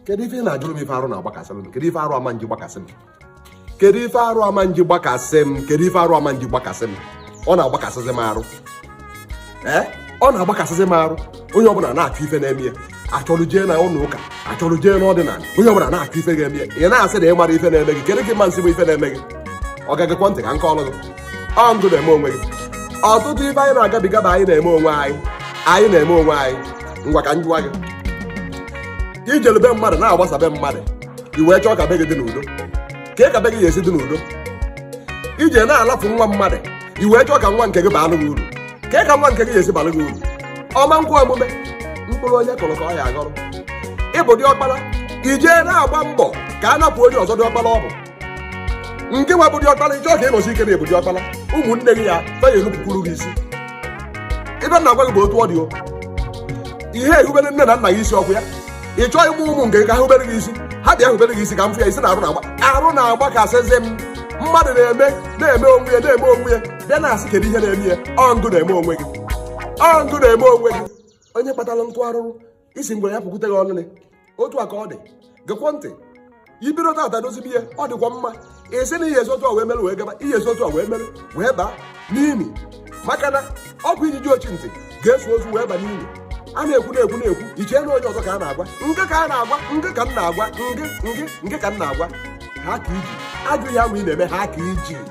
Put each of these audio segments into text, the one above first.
kedu ife ị na-ajụrụ m ife arụ na-agbakasị m kedu ife arụ ama nji gbakasị m kedu ife arụ ama nji gbakasị m kedu ife arụ ama nji gbakasị m ọ na-agbakasịzi m arụ ee ọ na-agbakasịzi m arụ onye ọbụla na-achụ ife na-eme ya achọrọ jee na ụlọ ụka achọrọ jee n'ọdịnala onye ọbụla na-achọ ife ga-eme ya ị na-asị na ị mara ife na-eme gị kedu ka ịma nsị bụ ife na-eme gị ọga gekwa ntị ka m kọọrụ gị ọ ngị na-eme onwe gị ọtụtụ ife anyị na-agabiga bụ anyị na-eme onwe anyị anyị na-eme onwe anyị ngwa ka m jụwa gị i jelu be mmadụ na-agbasa be mmadụ i wee chọọ ka be gị dị n'udo kee ka be gị ga-esi dị n'udo i jee na-alafu nwa mmadụ i wee chọọ ka nwa nke gị baalụ gị uru kee ka nwa nke gị ga-esi balụ gị uru ọ ma nkwe omume mkpụrụ onye kụrụ ka ọ ya-aghọrọ ị bụ diọkpara i jee na-agba mbọ ka a napụ onye ọzọ diọkpara ọ bụ ngị nwa bụ diọkpara ị chọọ ka ị nọsie ike na ị bụ diọkpara ụmụnne gị a fa ya-enupụkwuru gị isi ife m na-agwa gị bụ otu ọ dị o ị ya-erubere nne na nna gị isi ọkwa ya ị chọọ ịmụ ụmụ nke ga-ehubere gị isi ha bịa hubere gị isi ka m fụ ya ị sị na arụ na-agba arụ na-agbakasịzi m mmadụ na-eme na-eme onwe ya na-eme onwe ya bịa na-asị kedu ihe na-eme ya ọ ngị na-eme onwe gị ọ ngị na-eme onwe gị onye kpatara nkụ arụrụ sị ngwere ya pụkwute gị olili otu a ka ọ dị gekwo ntị i bido tata dozibe ihe ọ dịkwa mma ị sị na ị ya-esi otu a wee mere wee gaba ị ya-esi otu a wee mere wee baa n'ini maka na ọkwa ijiji ochi ntị ga-eso ozu wee ba n'ini a na-ekwu na-ekwu na-ekwu i chee na onye ọzọ ka a na-agwa ngị ka a na-agwa ngị ka m na-agwa ngị ka m na-agwa haa aka i ji ajọ ihe nwa ị na-eme haa aka i ji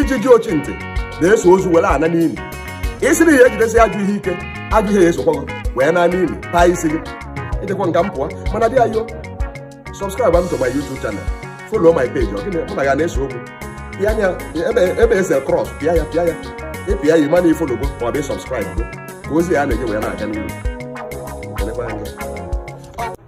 ijiji ochi ntị na-eso ozu were ana n'ili ị sị na ị ya-ejidesi ajọ ihe ike ajọ ihe ya-esokwa gị wee naa n'ili taa isi gị ịdịkwa nka m pụọ mana dị ayo subscribe am to my youtube channel follow my page ọ gịnị mụ na ya na-ese okwu pịa ya ebe ebe ese cross pịa ya pịa ya ị pịa ya ị ma na i follow go ma ọ bụ subscribe go ka ozi a na-enye wee na-aga n'ihu Kelekwa anyị.